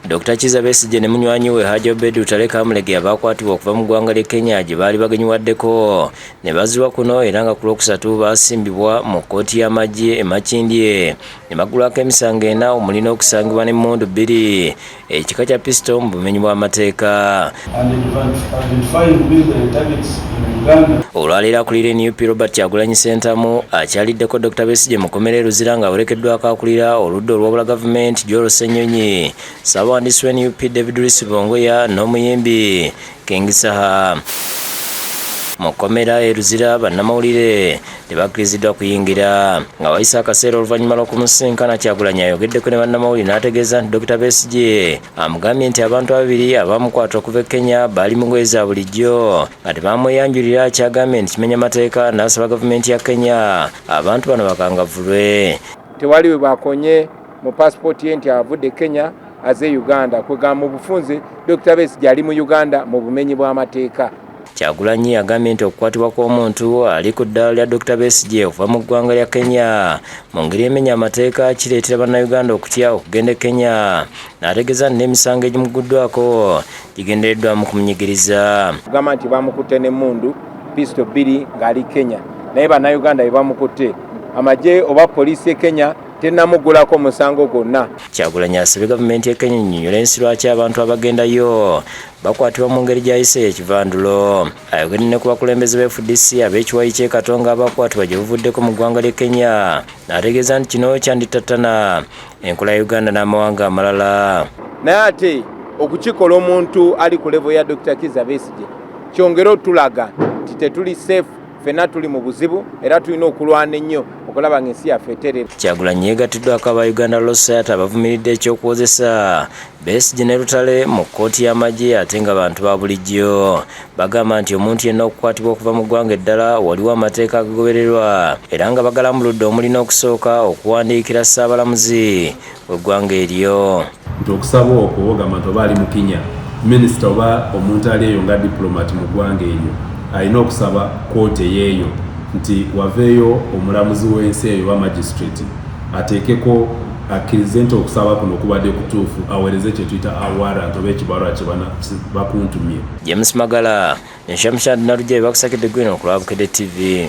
Dr Kiza Besigye ne munywanyi we Haji Obed Lutale Kamulegeya baakwatibwa okuva mu ggwanga ly'e Kenya gye baali bagenyiwaddeko ne bazzibwa kuno era nga ku lwokusatu baasimbibwa mu kkooti y'amagye e Makindye ne baggulwako emisango ena omuli n'okusangibwa n'emmundu bbiri ekika kya pisito mu bumenyi bw'amateeka. Olwaleero akulira nup Robert Kyagulanyi Sentamu akyaliddeko Dr Besigye mukomera eruzira nga awerekeddwako akulira oludda olwabula gavumenti Joel Ssenyonyi ssabawandiisi wa nup David Risibongoya n'omuyimbi King Saha mu kkomera e Luzira bannamawulire tebakkiriziddwa kuyingira nga wayise akaseera oluvannyuma lw'okumusisinkana Kyagulanyi ayogeddeko ne bannamawulire n'ategeeza nti Dokita Besigye amugambye nti abantu ababiri abaamukwata okuva e Kenya baali mu ngoye za bulijjo nga tebamweyanjulira kyagambye nti kimenya mateeka n'asaba gavumenti ya Kenya abantu bano bakangavulwe tewali we bakonye mu paasipooti ye nti avudde e Kenya aze e Uganda kwegamba mu bufunze Dokita Besigye ali mu Uganda mu bumenyi bw'amateeka Kyagulanyi agambye nti okukwatibwa kw'omuntu ali ku ddaala lya Dokita Besigye okuva mu ggwanga lya Kenya mu ngeri emenya amateeka kireetera Bannayuganda okutya okugenda e Kenya n'ategeeza nti n'emisango egimugguddwako gigendereddwa mu kumunyigiriza. Kugamba nti bamukutte n'emmundu pisito bbiri ng'ali Kenya naye Bannayuganda be bamukutte amagye oba poliisi e Kenya tenamugulako musango gwonna. Kyagulanyi asabye gavumenti e Kenya ennyonyola ensi lwaki abantu abagendayo bakwatibwa mu ngeri gyayise yekivandulo ayogedde ne ku bakulembeze ba fdc ab'ekiwayi ky'e katonga abakwatibwa gye buvuddeko mu ggwanga ly'e kenya n'ategeeza nti kino kyandittattana enkola ya uganda n'amawanga amalala naye ate okukikola omuntu ali ku levo ya dr kiza besigye kyongere otulaga nti tetuli safe fena tuli mu buzibu era tulina okulwana ennyo okulaba ng'ensi yaffe eterera kyagulanyi yeegattiddwako aba uganda losat abavumiridde ekyokuwozesa Besigye ne Lutale mu kkooti y'amagye ate nga bantu ba bulijjo bagamba nti omuntu yenna okukwatibwa okuva mu ggwanga eddala waliwo amateeka agagobererwa era nga bagalambuludde omuli n'okusooka okuwandiikira ssaabalamuzi w'eggwanga eryo nti okusaba okwo ogamba nti oba ali mu kinya minisita oba omuntu ali eyo nga diplomat mu ggwanga eryo alina okusaba kkooti eyeeyo nti waveeyo omulamuzi w'ensi eyo oba magistrate ateekeko akkirize nti okusaba kuno kubadde kutuufu aweereze kye tuyita a warrant oba ekibalwa kye bakuntumye. James Magala ne Shamshad Nalujabi bakusakidde gwino ku lwa Bukedde TV.